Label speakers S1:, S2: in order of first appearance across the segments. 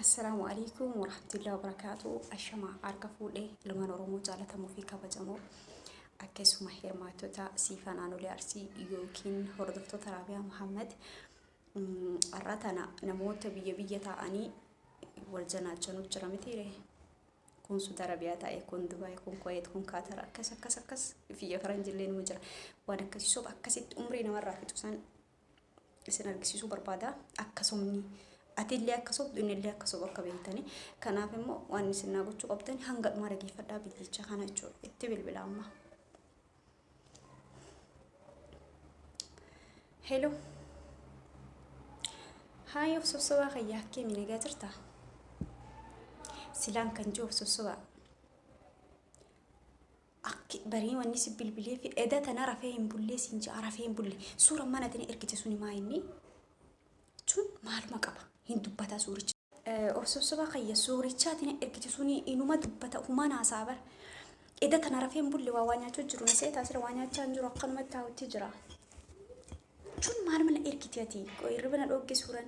S1: Assalaamu alaikum warahmatullahi wabarakaatu ashama harka fuudhe ilmaan oromoo jaalatamuu fi kabajamoo akkasuma hirmaattota siifa naannolee arsii yookiin hordoftoota raabiyaa muhammad har'a tana namoota biyya biyya taa'anii wal janaachanuu jira mitiire kun suuda rabiyaa taa'e kun dubaay kun koyeet kun kaatara akkas akkas akkas biyya faranjillee numa jira waan akkasii soba akkasitti umrii namarraa fixu san isin argisiisuu barbaada akka sobni atillee akka sobdu innillee akka sobu akka beektani kanaaf immoo waan isin naa gochuu qabdan hanga dhumaa dhageeffadhaa bilbicha kana jechuudha itti bilbila amma hello haay of sossobaa kayyaa akkeemi nagaa jirta silaan kan jiru of sossobaa Akki barii wanni si bilbileefi eda tana rafee hin bullee siin ja'a rafee hin bulle suura mana tini ergite suni maa inni jechuun maaluma qaba hin dubbata suuricha. Of sossoba kayya suurichaa tini ergite suni inuma dubbata humaan haasa'a bar eda tana rafee hin bulle waa waa nyaachuu jiru na seetaa sira waa nyaachaa hin jiru akkanumatti taa'utti jira jechuun maaluma na ergite ati qoy irriba na dhoogge suuran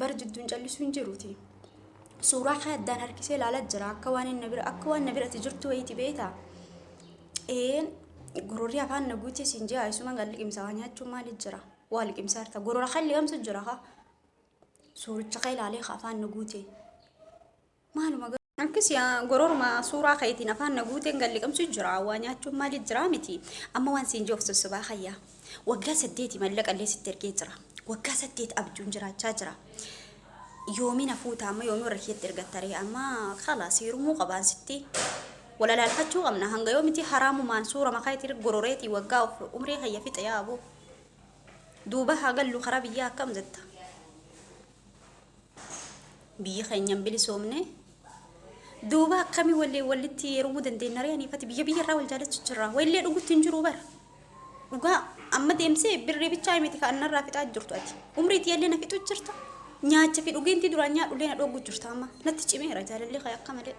S1: Bar jidduun callisuu hin jiruuti. Suuraa kee addaan harkisee ilaalaa jira. Akka waan inni na bira akka waan na bira ati jirtu wayiiti beekta. Een gororri afaan na guutee siin jira. Isumaan kan liqimsa waa nyaachuun maali jira? Waa liqimsa harta. Gorora kan liqamsu jira haa. Suuricha kee ilaalee ka afaan na guutee. Maaluma Akkasi gororuma suuraa keetiin afaan na guuteen gal liqimsu jira waa nyaachuun maaliif jira miti amma waan siin jiruuf sosobaa kayya waggaa saddeeti mallaqa illee sitti ergee jira waggaa saddeet abjuun jiraachaa jira yoomiin hafuuta amma yoomii warra kiyyatti ergattaree amma kala siirumuu qabaan sitti walalaalfachuu qabna hanga yoomiti haraamumaan suura makaa itti gororeetii waggaa umrii kayya fixe yaaboo duuba haa gallu karaa biyyaa akkam jetta biyyi keenya hin bilisoomne duuba akkamii wallee wallitti yerumuu dandeenya ree aniifati biyya biyya irraa wal jaalachu jirra wallee dhugutti hin jiru bara dhugaa amma deemsee birrii bichaa himiti ka annarraa fixaa jirtu ati umrii tiyallee na fixu jirta nyaacha fi dhugeentii duraan nyaadhullee na dhoogu jirta amma natti cimeera jaalallee kee akka malee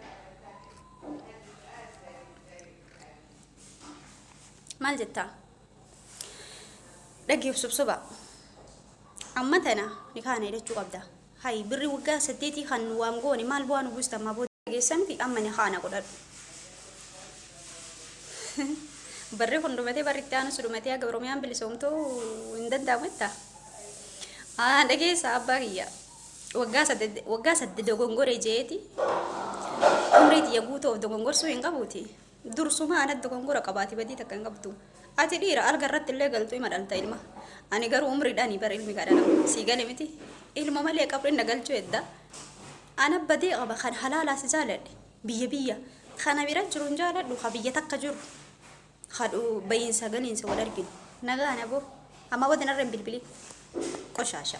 S1: maal jettaa Dhaggeef subsuba. Amma tana ni kaana jedhachuu qabda. Hayi birri waggaa saddeetii kan nu waan goone maal bu'aa nu buusta ammaa booda geessan miti amma ni kaana godhadhu. Barri kun dhumatee barri itti aanus dhumatee haga Oromiyaan bilisoomtuu hin danda'amu jetta. Haa dhageessa abbaa kiyya. Waggaa sadde waggaa sadde dogongore jeeti. Umrii tiyya guutuu of dogongorsuu hin qabuuti. Dursumaa anat dogongora qabaati badii takka hin qabdu ati dhiira alga irratti illee galtu ima dhalta ilma ani garuu umridhani bar ilmi kaa dhalamu sii gale miti ilma malee qabrin na galchu hedda ana badii qaba kan halaalaa si jaaladhe biyya biyya kana bira jiru hin jaaladhu ka biyya takka jiru kadhu bayinsa galinsa wal arginu nagaa nabo amma bodi narra hin bilbilin qoshaasha